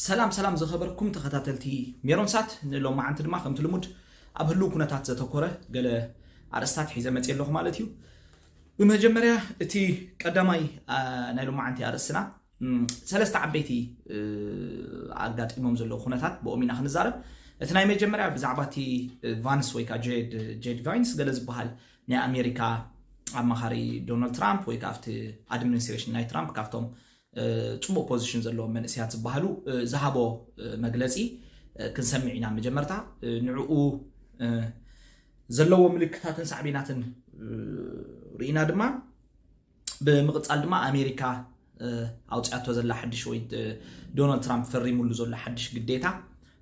ሰላም ሰላም ዝኸበርኩም ተኸታተልቲ ሜሮን ሳት ንሎማዓንቲ ድማ ከምቲ ልሙድ ኣብ ህልው ኩነታት ዘተኮረ ገለ ኣርእስታት ሒዘ መፅ ኣለኹ ማለት እዩ ብመጀመርያ እቲ ቀዳማይ ናይ ሎማዓንቲ ኣርእስትና ሰለስተ ዓበይቲ ኣጋጢሞም ዘለዉ ኩነታት ብኦም ኢና ክንዛረብ እቲ ናይ መጀመርያ ብዛዕባ እቲ ቫንስ ወይ ከዓ ጄድ ቫይንስ ገለ ዝበሃል ናይ ኣሜሪካ ኣማኻሪ ዶናልድ ትራምፕ ወይ ከዓ ኣብቲ ኣድሚኒስትሬሽን ናይ ትራምፕ ካብቶም ጽቡቅ ፖዚሽን ዘለዎም መንእሰያት ዝበሃሉ ዝሃቦ መግለጺ ክንሰሚዕ ኢና መጀመርታ ንዕኡ ዘለዎ ምልክታትን ሳዕቤናትን ርኢና ድማ ብምቕጻል ድማ ኣሜሪካ ኣውጽኣቶ ዘላ ሓድሽ ወይ ዶናልድ ትራምፕ ፈሪሙሉ ዘሎ ሓድሽ ግዴታ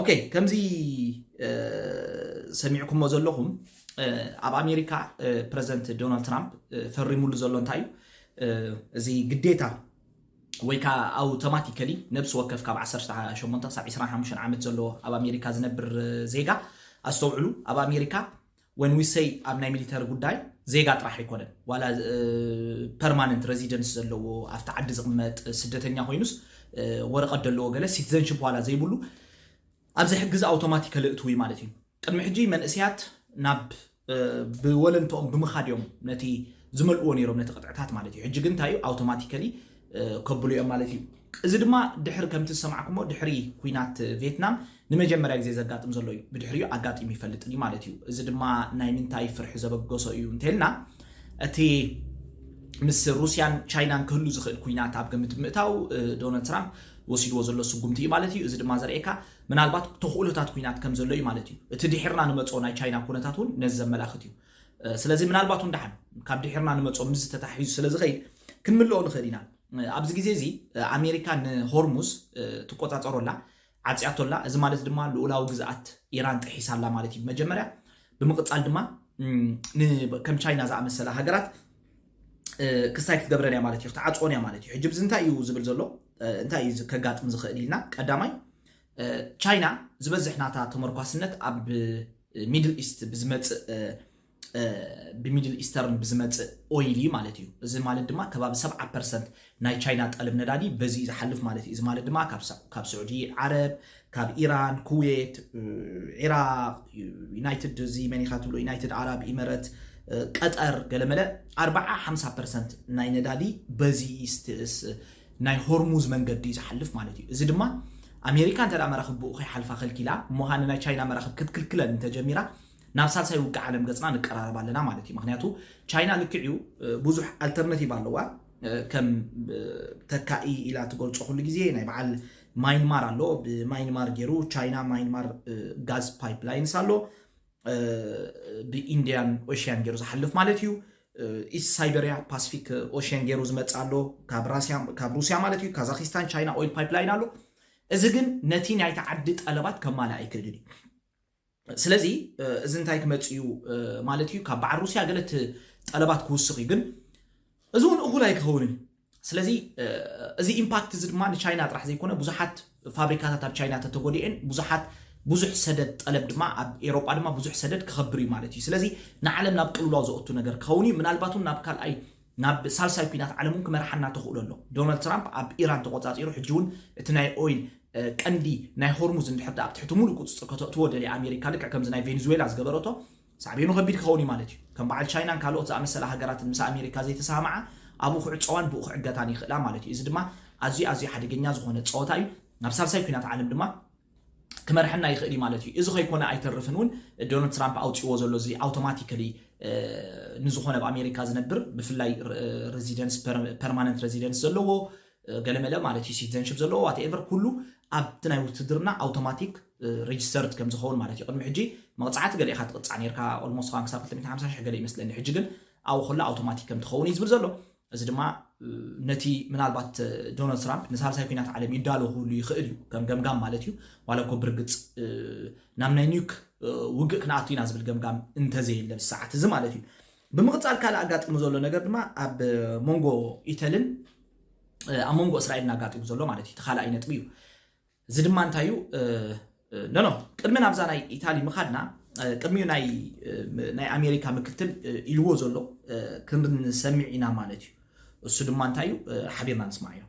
ኦኬ ከምዚ ሰሚዕኩሞ ዘለኹም ኣብ ኣሜሪካ ፕረዚደንት ዶናልድ ትራምፕ ፈሪሙሉ ዘሎ እንታይ እዩ እዚ ግዴታ ወይ ከዓ ኣውቶማቲካሊ ነብሲ ወከፍ ካብ 18 ክሳብ 25 ዓመት ዘለዎ ኣብ ኣሜሪካ ዝነብር ዜጋ ኣስተውዕሉ ኣብ ኣሜሪካ ወን ዊ ሰይ ኣብ ናይ ሚሊተሪ ጉዳይ ዜጋ ጥራሕ ኣይኮነን ዋላ ፐርማነንት ረዚደንስ ዘለዎ ኣብቲ ዓዲ ዝቕመጥ ስደተኛ ኮይኑስ ወረቐት ዘለዎ ገለ ሲቲዘንሽፕ ዋላ ዘይብሉ ኣብዚ ሕጊ እዚ ኣውቶማቲካሊ እትው እዩ ማለት እዩ ቅድሚ ሕጂ መንእስያት ናብ ብወለንትኦም ብምኻድ እዮም ነቲ ዝመልእዎ ነይሮም ነቲ ቅጥዕታት ማለት እዩ ሕጂ ግን እንታይ እዩ ኣውቶማቲካሊ ከብሉ እዮም ማለት እዩ። እዚ ድማ ድሕሪ ከምቲ ዝሰማዕኩሞ ድሕሪ ኩናት ቬትናም ንመጀመርያ ግዜ ዘጋጥም ዘሎ እዩ። ብድሕሪኡ ኣጋጢሙ ይፈልጥን እዩ ማለት እዩ። እዚ ድማ ናይ ምንታይ ፍርሒ ዘበገሶ እዩ እንተልና እቲ ምስ ሩስያን ቻይናን ክህሉ ዝኽእል ኩናት ኣብ ግምት ብምእታው ዶናልድ ትራምፕ ወሲድዎ ዘሎ ስጉምቲ እዩ ማለት እዩ። እዚ ድማ ዘርእየካ ምናልባት ተኽእሎታት ኩናት ከም ዘሎ እዩ ማለት እዩ። እቲ ድሒርና ንመፅኦ ናይ ቻይና ኩነታት እውን ነዚ ዘመላኽት እዩ። ስለዚ ምናልባት እውን ደሓን ካብ ድሒርና ንመፅኦ ምስ ተታሒዙ ስለ ዝኸይድ ክንምልኦ ንኽእል ኢና ኣብዚ ግዜ እዚ ኣሜሪካ ንሆርሙዝ ትቆፃፀሮ ኣላ ዓፅያቶ ኣላ እዚ ማለት ድማ ልኡላዊ ግዝኣት ኢራን ጥሒሳ ኣላ ማለት እዩ መጀመርያ ብምቕፃል ድማ ከም ቻይና ዝኣመሰላ ሃገራት ክስታይ ክትገብረን እያ ማለት እዩ ክትዓፅዎን እያ ማለት እዩ ሕጂ ብዚ እንታይ እዩ ዝብል ዘሎ እንታይ እዩ ከጋጥም ዝኽእል ኢልና ቀዳማይ ቻይና ዝበዝሕ ናታ ተመርኳስነት ኣብ ሚድል ኢስት ብዝመፅእ ብሚድል ኢስተርን ብዝመፅእ ኦይል እዩ ማለት እዩ እዚ ማለት ድማ ከባቢ 70 ፐርሰንት ናይ ቻይና ጠለብ ነዳዲ በዚ እዩ ዝሓልፍ ማለት እዩ እዚ ማለት ድማ ካብ ስዑዲ ዓረብ ካብ ኢራን ኩዌት ዒራቅ ዩናይትድ እዚ መን ኢካ ትብሎ ዩናይትድ ዓራብ ኢመረት ቀጠር ገለመለ 4 50 ፐርሰንት ናይ ነዳዲ በዚ ናይ ሆርሙዝ መንገዲ እዩ ዝሓልፍ ማለት እዩ። እዚ ድማ ኣሜሪካ እንተ መራኽብ ብኡ ከይሓልፋ ከልኪላ እሞ ኸኣ ንናይ ቻይና መራኽብ ክትክልክለን እንተ ጀሚራ ናብ ሳልሳይ ውግእ ዓለም ገጽና ንቀራረብ ኣለና ማለት እዩ። ምክንያቱ ቻይና ልክዕ እዩ ብዙሕ ኣልተርናቲቭ ኣለዋ ከም ተካኢ ኢላ ትገልጾ ኩሉ ግዜ ናይ በዓል ማይንማር ኣሎ ብማይንማር ገይሩ ቻይና ማይንማር ጋዝ ፓይፕላይንስ ኣሎ ብኢንድያን ኦሽያን ገይሩ ዝሓልፍ ማለት እዩ ኢስት ሳይበርያ ፓስፊክ ኦሽያን ገይሩ ዝመፅእ ኣሎ ካብ ሩስያ ማለት እዩ ካዛኪስታን ቻይና ኦይል ፓይፕላይን ኣሎ እዚ ግን ነቲ ናይቲ ዓዲ ጠለባት ከማልእ ኣይክእልን እዩ ስለዚ እዚ እንታይ ክመፅ እዩ ማለት እዩ ካብ በዓል ሩስያ ገለት ጠለባት ክውስኽ እዩ ግን እዚ እውን እኹል ኣይክኸውንን ስለዚ እዚ ኢምፓክት እዚ ድማ ንቻይና ጥራሕ ዘይኮነ ብዙሓት ፋብሪካታት ኣብ ቻይና ተተጎዲኤን ብዙሓት ብዙሕ ሰደድ ጠለብ ድማ ኣብ ኤሮጳ ድማ ብዙሕ ሰደድ ክኸብር እዩ ማለት እዩ ስለዚ ንዓለም ናብ ቅልውላው ዘኦቱ ነገር ክኸውን እዩ ምናልባት እውን ናብ ካልኣይ ናብ ሳልሳይ ኩናት ዓለም እውን ክመርሓና ተኽእሎ ኣሎ ዶናልድ ትራምፕ ኣብ ኢራን ተቆፃፂሩ ሕጂ እውን እቲ ናይ ኦይል ቀንዲ ናይ ሆርሙዝ እንድሕር ኣብ ትሕቲ ሙሉእ ቁፅፅር ከተእትዎ ደልያ ኣሜሪካ ልክዕ ከምዚ ናይ ቬንዙዌላ ዝገበረቶ ሳዕቤኑ ከቢድ ክኸውን እዩ ማለት እዩ። ከም በዓል ቻይናን ካልኦት ዝኣመሰላ ሃገራትን ምስ ኣሜሪካ ዘይተሰማምዓ ኣብኡ ክዕጸዋን ብኡ ክዕገታን ይኽእላ ማለት እዩ። እዚ ድማ ኣዝዩ ኣዝዩ ሓደገኛ ዝኾነ ጸወታ እዩ። ናብ ሳልሳይ ኲናት ዓለም ድማ ክመርሐና ይኽእል እዩ ማለት እዩ። እዚ ከይኮነ ኣይተርፍን እውን ዶናልድ ትራምፕ ኣውጺእዎ ዘሎ እዚ ኣውቶማቲካሊ ንዝኾነ ኣብ ኣሜሪካ ዝነብር ብፍላይ ረዚደንስ ፐርማነንት ረዚደንስ ዘለዎ ገለመለ ማለት እዩ ሲትዘንሽፕ ዘለዎ ዋትኤቨር ኩሉ ኣብቲ ናይ ውትድርና ኣውቶማቲክ ሬጅስተርድ ከም ዝኸውን ማለት እዩ ቅድሚ ሕጂ መቕጻዕቲ ገለ ኢኻ ትቕጻዕ ነርካ ኦልሞስት ኸን ክሳብ 250 ሽሕ ገለ ይመስለኒ ሕጂ ግን ኣብኡ ከሎ ኣውቶማቲክ ከም ትኸውን እዩ ዝብል ዘሎ እዚ ድማ ነቲ ምናልባት ዶናልድ ትራምፕ ንሳልሳይ ኩናት ዓለም ይዳሎ ክህሉ ይኽእል እዩ ከም ገምጋም ማለት እዩ ዋላ እኮ ብርግፅ ናብ ናይ ኒውክ ውግእ ክንኣቱ ኢና ዝብል ገምጋም እንተዘየለ ብሰዓት እዚ ማለት እዩ ብምቕጻል ካልእ ኣጋጢሙ ዘሎ ነገር ድማ ኣብ ሞንጎ ኢተልን ኣብ ሞንጎ እስራኤልን ኣጋጢሙ ዘሎ ማለት እዩ እቲ ካልኣይ ነጥቢ እዩ እዚ ድማ እንታይ እዩ ኖኖ ቅድሚ ናብዛ ናይ ኢታሊ ምኻድና ቅድሚኡ ናይ ኣሜሪካ ምክትል ኢልዎ ዘሎ ክንሰሚዕ ኢና ማለት እዩ እሱ ድማ እንታይ እዩ ሓቢርና ንስማዕ እዮም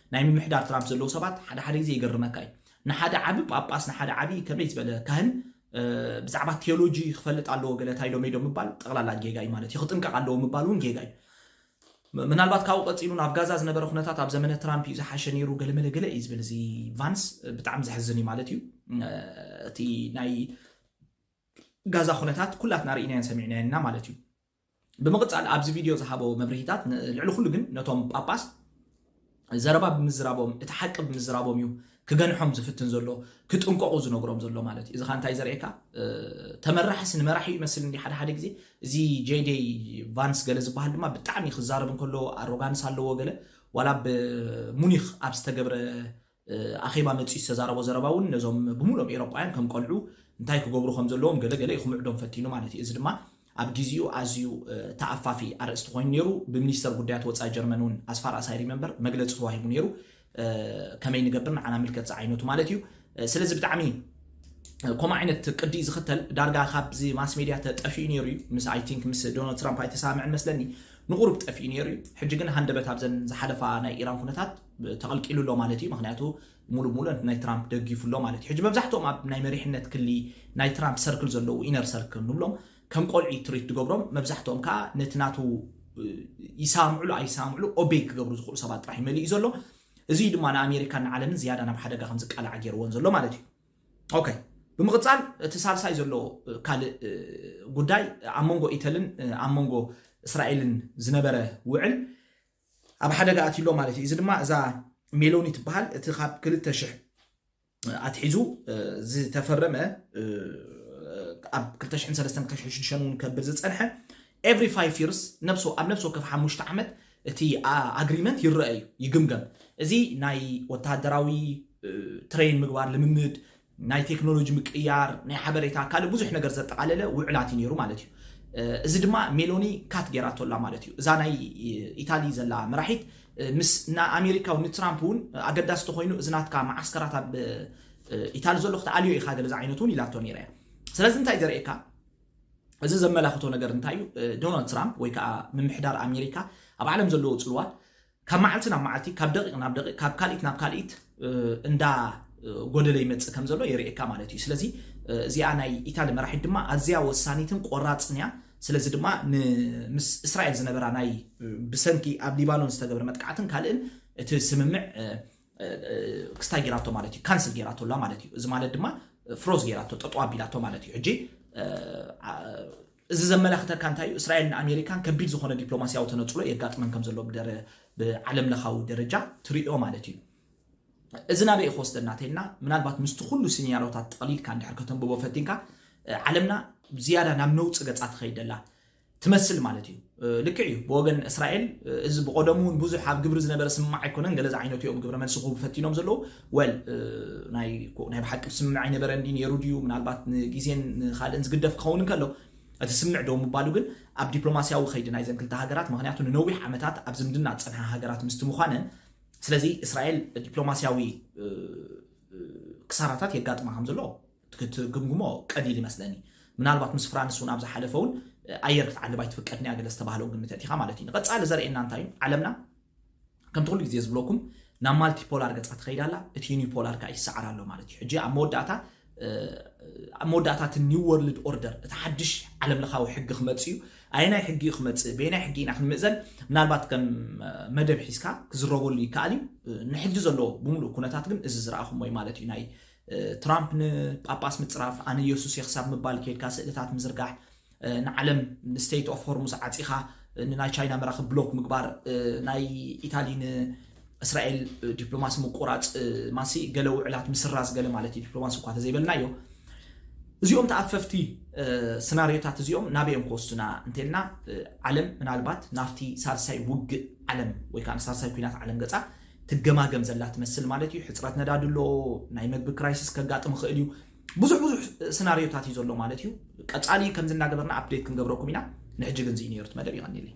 ናይ ምምሕዳር ትራምፕ ዘለዉ ሰባት ሓደ ሓደ ግዜ ይገርመካ እዩ። ንሓደ ዓቢ ጳጳስ ንሓደ ዓቢ ከመይ ዝበለ ካህን ብዛዕባ ቴዎሎጂ ክፈልጥ ኣለዎ ገለ ታይ ዶ ሜዶ ምባል ጠቕላላ ጌጋ እዩ ማለት እዩ። ክጥንቀቕ ኣለዎ ምባል እውን ጌጋ እዩ። ምናልባት ካብኡ ቀፂሉ ናብ ጋዛ ዝነበረ ኩነታት ኣብ ዘመነ ትራምፕ እዩ ዝሓሸ ነይሩ ገለመለ ገለ እዩ ዝብል እዚ ቫንስ ብጣዕሚ ዘሕዝን እዩ ማለት እዩ እቲ ናይ ጋዛ ኩነታት ኩላትና ርኢናዮን ሰሚዕናዮና ማለት እዩ ብምቕጻል ኣብዚ ቪድዮ ዝሃቦ መብርሂታት ን ልዕሊ ኩሉ ግን ነቶም ጳጳስ ዘረባ ብምዝራቦም እቲ ሓቂ ብምዝራቦም እዩ ክገንሖም ዝፍትን ዘሎ ክጥንቀቑ ዝነግሮም ዘሎ ማለት እዩ እዚ ኸኣ እንታይ ዘርእየካ ተመራሕስ ንመራሒ ይመስል እንዲ ሓደ ሓደ ግዜ እዚ ጄዴይ ቫንስ ገለ ዝበሃል ድማ ብጣዕሚ ክዛረብ እንከሎ ኣሮጋንስ ኣለዎ ገለ ዋላ ብ ሙኒኽ ኣብ ዝተገብረ ኣኼባ መጺኡ ዝተዛረቦ ዘረባ እውን ነዞም ብምሉኦም ኤውሮጳውያን ከም ቈልዑ እንታይ ክገብሩ ከም ዘለዎም ገለ ገለ ኢዩ ክምዕዶም ፈቲኑ ማለት ኢዩ። እዚ ድማ ኣብ ግዜኡ ኣዝዩ ተኣፋፊ ኣርእስቲ ኮይኑ ነይሩ። ብሚኒስተር ጉዳያት ወጻኢ ጀርመን እውን ኣስ ፋር ኣስ ኣይ ሪመምበር መግለጺ ተዋሂቡ ነይሩ። ከመይ ንገብር ንዓና ምልከት ዝዓይነቱ ማለት ኢዩ። ስለዚ ብጣዕሚ ከምኡ ዓይነት ቅዲ ኢዩ ዝኽተል። ዳርጋ ካብዚ ማስ ሜድያ እተ ጠፊኡ ነይሩ ኢዩ። ምስ ኣይ ቲንክ ምስ ዶናልድ ትራምፕ ኣይተሰማምዐን መስለኒ ንቑሩብ ጠፊኡ ነይሩ ኢዩ። ሕጂ ግን ሃንደበት ኣብዘን ዝሓለፋ ናይ ኢራን ኩነታት ተቐልቂሉ ኣሎ ማለት እዩ ምክንያቱ ሙሉ ሙሉ ናይ ትራምፕ ደጊፉ ኣሎ ማለት እዩ ሕጂ መብዛሕትኦም ኣብ ናይ መሪሕነት ክሊ ናይ ትራምፕ ሰርክል ዘለዉ ኢነር ሰርክል ንብሎም ከም ቆልዒ ትሪት ትገብሮም መብዛሕትኦም ከዓ ነቲ ናቱ ይሰምዕሉ ኣይሰምዕሉ ኦቤ ክገብሩ ዝኽእሉ ሰባት ጥራሕ ይመልእ እዩ ዘሎ እዚ ድማ ንኣሜሪካን ንዓለምን ዝያዳ ናብ ሓደጋ ከም ዝቃላዓ ገይርዎን ዘሎ ማለት እዩ ኦከ ብምቕፃል እቲ ሳልሳይ ዘሎ ካልእ ጉዳይ ኣብ መንጎ ኢተልን ኣብ መንጎ እስራኤልን ዝነበረ ውዕል ኣብ ሓደጋ ኣትዩሎ ማለት እዩ። እዚ ድማ እዛ ሜሎኒ ትበሃል እቲ ካብ ክልተ ሽሕ ኣትሒዙ ዝተፈረመ ኣብ 2003 እውን ከብል ዝፀንሐ ኤቭሪ ፋይቭ ይርስ ኣብ ነብሲ ወከፍ ሓሙሽተ ዓመት እቲ ኣግሪመንት ይረአ እዩ ይግምገም እዚ ናይ ወታደራዊ ትሬን ምግባር ልምምድ ናይ ቴክኖሎጂ ምቅይያር፣ ናይ ሓበሬታ ካልእ ብዙሕ ነገር ዘጠቓለለ ውዕላት እዩ ነይሩ ማለት እዩ። እዚ ድማ ሜሎኒ ካት ገይራቶ ኣላ ማለት እዩ። እዛ ናይ ኢታሊ ዘላ መራሒት ምስ ን ኣሜሪካዊ ንትራምፕ እውን ኣገዳሲ ተኾይኑ እዚ ናትካ መዓስከራት ኣብ ኢታሊ ዘሎ ክትኣልዮ ኢኻ ገለ ዝዓይነቱ እውን ኢላቶ ነይራ እያ። ስለዚ እንታይ ዘርእየካ እዚ ዘመላኽቶ ነገር እንታይ እዩ ዶናልድ ትራምፕ ወይ ከዓ ምምሕዳር ኣሜሪካ ኣብ ዓለም ዘለዎ ፅልዋ ካብ መዓልቲ ናብ መዓልቲ ካብ ደቂቅ ናብ ደቂቅ ካብ ካልኢት ናብ ካልኢት እንዳ ጎደለ ይመጽእ ከም ዘሎ የርእየካ ማለት እዩ ስለዚ እዚኣ ናይ ኢታሊ መራሒት ድማ ኣዝያ ወሳኒትን ቆራጽን እያ ስለዚ ድማ ምስ እስራኤል ዝነበራ ናይ ብሰንኪ ኣብ ሊባኖን ዝተገብረ መጥቃዕትን ካልእን እቲ ስምምዕ ክስታይ ጌራቶ ማለት እዩ ካንስል ጌራቶ ኣላ ማለት እዩ እዚ ማለት ድማ ፍሮዝ ጌራቶ ጠጠው ኣቢላቶ ማለት እዩ ሕጂ እዚ ዘመላኽተካ እንታይ እዩ? እስራኤልን ኣሜሪካን ከቢድ ዝኾነ ዲፕሎማሲያዊ ተነጽሎ የጋጥመን ከም ዘሎ ብዓለምለኻዊ ደረጃ ትርእዮ ማለት እዩ። እዚ ናበይ እዩ ክወስደና ተይልና ምናልባት ምስቲ ኩሉ ሲኒያሮታት ጠቕሊልካ እንድሕር ከተንብቦ ፈቲንካ ዓለምና ዝያዳ ናብ ነውጺ ገጻ ትኸይድ ደላ ትመስል ማለት እዩ። ልክዕ እዩ ብወገን እስራኤል እዚ ብቆደሙ እውን ብዙሕ ኣብ ግብሪ ዝነበረ ስምማዕ ኣይኮነን ገለ ዝዓይነቱ እዮም ግብረ መልሲ ክህቡ ፈቲኖም ዘለዉ ወል ናይ ብሓቂ ብስምምዕ ኣይነበረ እንዲ ነይሩ ድዩ ምናልባት ንግዜን ንካልእን ዝግደፍ ክኸውን እንከሎ እቲ ስምምዕ ደው ምባሉ ግን ኣብ ዲፕሎማስያዊ ከይዲ ናይዘን ክልተ ሃገራት ምክንያቱ ንነዊሕ ዓመታት ኣብ ዝምድና ዝፀንሓ ሃገራት ምስቲ ምዃነን ስለዚ እስራኤል ዲፕሎማስያዊ ክሳራታት የጋጥማ ከም ዘሎ ክትግምግሞ ቀሊል ይመስለኒ ምናልባት ምስ ፍራንስ እውን ኣብ ዝሓለፈ እውን ኣየር ክትዓልብ ኣይትፍቀድን እያ ገለ ዝተባህለው ግምት እቲኻ ማለት እዩ ንቐፃሊ ዘርእየና እንታይ እዩ ዓለምና ከምቲ ኩሉ ግዜ ዝብለኩም ናብ ማልቲፖላር ገፃ ትኸይድ ኣላ እቲ ዩኒፖላር ከዓ ይሰዓር ኣሎ ማለት እዩ ሕጂ ኣብ መወዳእታ ኣብ መወዳእታ እቲ ኒው ወርልድ ኦርደር እቲ ሓድሽ ዓለም ለኻዊ ሕጊ ክመፅ እዩ ኣየናይ ሕጊ እዩ ክመፅእ በየናይ ሕጊ ኢና ክንምእዘን ምናልባት ከም መደብ ሒዝካ ክዝረበሉ ይከኣል እዩ ንሕጂ ዘሎ ብምሉእ ኩነታት ግን እዚ ዝረኣኹሞ እዩ ማለት እዩ ናይ ትራምፕ ንጳጳስ ምጽራፍ ኣነ የሱስ እየ ክሳብ ምባል ኬድካ ስእልታት ምዝርጋሕ ንዓለም ንስቴት ኦፍ ሆርሙዝ ዓጺኻ ንናይ ቻይና መራኽብ ብሎክ ምግባር ናይ ኢታሊ እስራኤል ዲፕሎማሲ ምቁራፅ ማሲ ገለ ውዕላት ምስራዝ ገለ ማለት እዩ ዲፕሎማሲ እኳ ተዘይበልናዮ እዚኦም ተኣፈፍቲ ስናርዮታት እዚኦም ናበዮም ክወስዱና እንተልና ዓለም ምናልባት ናብቲ ሳልሳይ ውግእ ዓለም ወይ ከዓ ሳልሳይ ኩናት ዓለም ገፃ ትገማገም ዘላ ትመስል ማለት እዩ። ሕጽረት ነዳዲ ኣሎ፣ ናይ መግቢ ክራይሲስ ከጋጥም ይኽእል እዩ። ብዙሕ ብዙሕ ስናርዮታት እዩ ዘሎ ማለት እዩ። ቀጻሊ ከምዚ እናገበርና ኣፕዴት ክንገብረኩም ኢና። ንሕጂ ግን እዚ እዩ ነይሩ እቲ መደብ። የቐንየለይ።